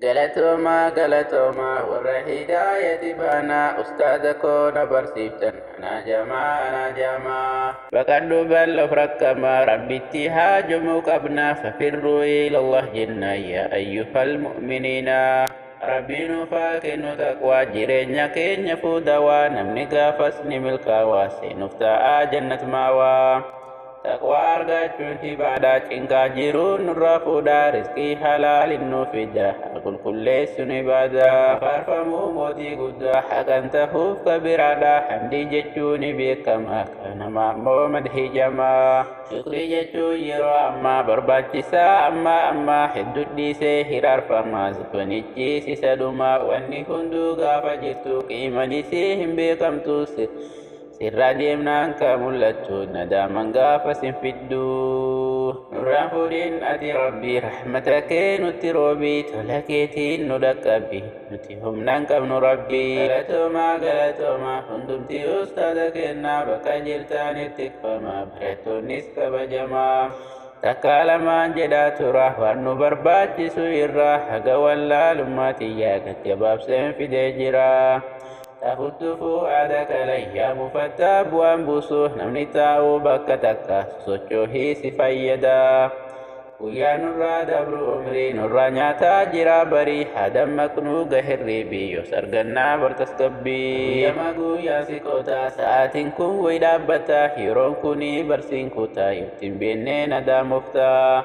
Galatoomaa galatoomaa warra hidaayati baanaa ustaaza koo na barsiiftan anaa jamaa anaa jamaa. Baqadhu bal of rakkamaa rabbitti haajomuu qabna fafirruu ilallah jenna yaa ayyuhal mu'miniina. Rabbii nuuf haa kennu taqwaa jireenya keenya fuudawaa namni gaafas ni milkaawaa seenuuf ta'aa jannat maawaa. Taqwaa argachuun ibaadhaa cinqaa jiruu nurraa fuudhaa rizqii halaaliin nu fida haa qulqulleessuun ibaadaa faarfamuu mootii guddaa haqan tahuuf kabiraadhaa hamdii jechuun ni beekama kana maammoo madhii jamaa shukrii jechuun yeroo ammaa barbaachisaa ammaa ammaa hedduu dhiisee hiraarfamaa zubanichi sisa dhumaa wanni hunduu gaafa jirtu qiimanisii hin beekamtu Sirraa deemnaan ka mul'attu nadaaman gaafa sin fiddu. Nurraa fuudhin ati rabbi rahmata kee nutti roobi tola keetiin nu dhaqqabbi nuti humnaan qabnu rabbi. Galatooma galatooma hundumti ustaaza keenna bakka jirtaanitti tikfama barattoonnis kabajama. Takkaa lamaan jedhaa tura waan nu barbaachisu irraa haga wallaalummaa tiyyaa gad gabaabseen fidee jira. Tahuttufuu aada kalayyaa mufattaa bu'aan buusu namni taa'u bakka takka sosochoohii si fayyada. Guyyaa nurraa dabru umrii nurraa nyaataa jira barii haa dammaqnuu gahirriibii yoos argannaa bar tasgabbii. Guyyama guyyaan si qotaa sa'aatiin kun way dhaabbataa yeroon kunii barsiin kutaa yoottiin beennee nadaamoftaa.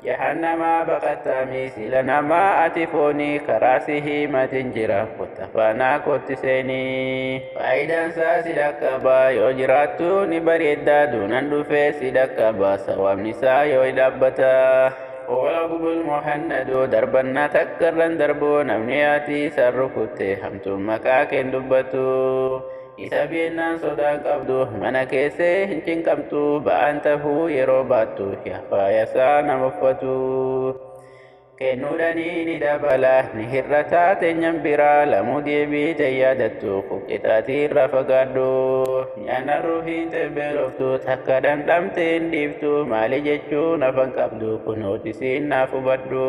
Jahannamaa baqattaamii sila namaa ati foonii karaa si hiimatin jira kotta faanaa kotti seenii. Faayidaan isaa si dhaqqaba yoo jiraattu ni bareedda duunan dhufee si dhaqqaba sawaabni isaa yoo dhaabbata. Owa gubul muhannadu darbannaa takkarran darbu namni ati isaan rukutte hamtuun maqaa keen dubbatu. Isa beennaan sodaa qabdu mana keessee hin cinqamtu ba'aan tahuu yeroo baattu yafaayasaa nama uffatu. Kennuudhanii ni dabala ni hir'ataa teenyan biraa lamuu deebii ta'e yaadattu kun qixaatii irraa fagaadhu. Nyaanna ruuhiin xebbeeloftu takka dhandhamte hin dhiiftu maali jechuun afan qabdu kun hootisiin naaf hubadhu.